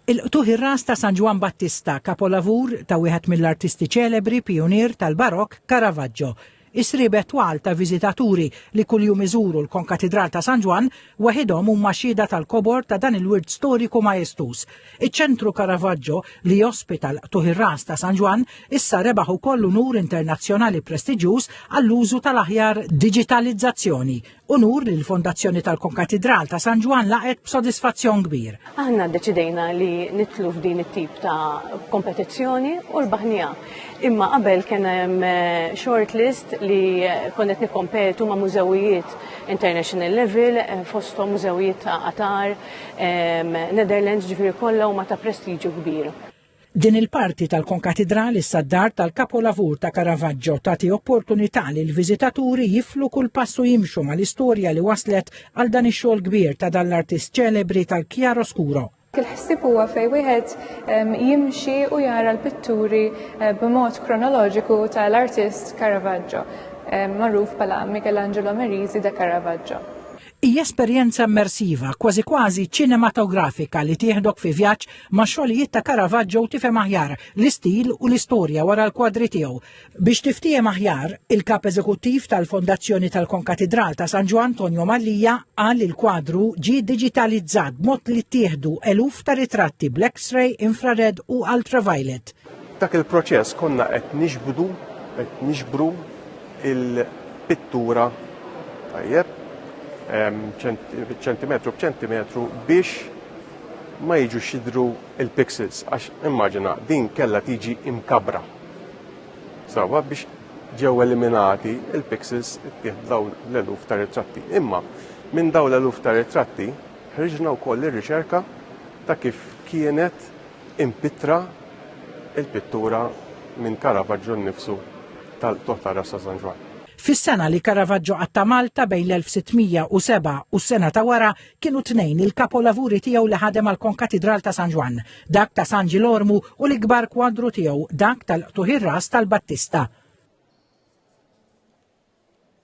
Il-qtugħ ir-ras ta' San Ġwann Battista, kapolavur ta' wieħed mill-artisti ċelebri pijunier tal-Barokk, Caravaggio. Is-sriebet twal ta' viżitaturi li kuljum iżuru l-Konkatidral ta' San Ġwann weħidhom huma xhieda tal-kobor ta' dan il-wirt storiku majestuż. Iċ-Ċentru Caravaggio, li jospita l-qtugħ ir-ras ta' San Ġwann, issa rebaħ ukoll unur internazzjonali prestiġjuż għall-użu tal-aħjar diġitalizzazzjoni Unur li l-Fondazzjoni tal-Konkatidral ta' San Ġwann laqgħet b'sodisfazzjon kbir. Aħna ddeċidejna li nitlu f'din it-tip ta' kompetizzjoni u l-baħnija. Imma qabel kien hemm eh, short list li eh, konnet nikkompetu ma' mużewijiet international level, eh, fosthom mużewijiet ta' Qatar, Netherlands ġifieri kollha huma ta' prestiġju kbir. Din il-parti tal-konkatidral issa d-dar tal-kapolavur ta' Caravaggio tagħti opportunità li l-viżitaturi jiflu kull pass u jimxu mal-istorja li wasslet għal dan ix-xogħol kbir ta' dan l-artist ċelebri tal-chiaroscuro. Il-ħsieb huwa fejn wieħed ehm, jimxi u jara l-pitturi eh, b'mod kronoloġiku tal-artist Caravaggio, ehm, magħruf bħala Michelangelo Merisi da Caravaggio. Hija esperjenza immersiva, kważi kważi ċinematografika li tieħdok fi vjaġġ ma' xogħlijiet ta' Caravaggio u tifhem aħjar l-istil u l-istorja wara l-kwadri tiegħu. Biex tiftiehem aħjar, il-Kap Eżekuttiv tal-Fondazzjoni tal-Konkatidral ta' San Ġwann Tonio Mallia qal li l-kwadru ġie diġitalizzat b'mod li ttieħdu eluf ta' ritratti bl-X-ray, infrared u ultraviolet. Dak il-proċess konna qed nixbdu, qed nixbru il-pittura tajjeb ċentimetru b'ċentimetru biex ma jiġux jidhru l-pixels għax immaġina din kellha tiġi imkabbra. Sawa biex ġew eliminati l-pixels ittieħdu dawn l-eluf ta' ritratti. Imma minn dawn l-eluf ta' ritratti ħriġna wkoll ir-riċerka ta' kif kienet Impittra l-pittura minn Caravaggio nnifsu tal-qtugħ tar-ras ta' San Ġwann. Fis-sena li Caravaggio qatta' Malta bejn l-1607 u s-sena ta' wara kienu tnejn il-kapolavuri tiegħu li ħadem għall-konkatidral ta' San Ġwann, dak ta' San Ġilormu u l-ikbar kwadru tiegħu dak tal-qtugħ ir-ras tal-Battista.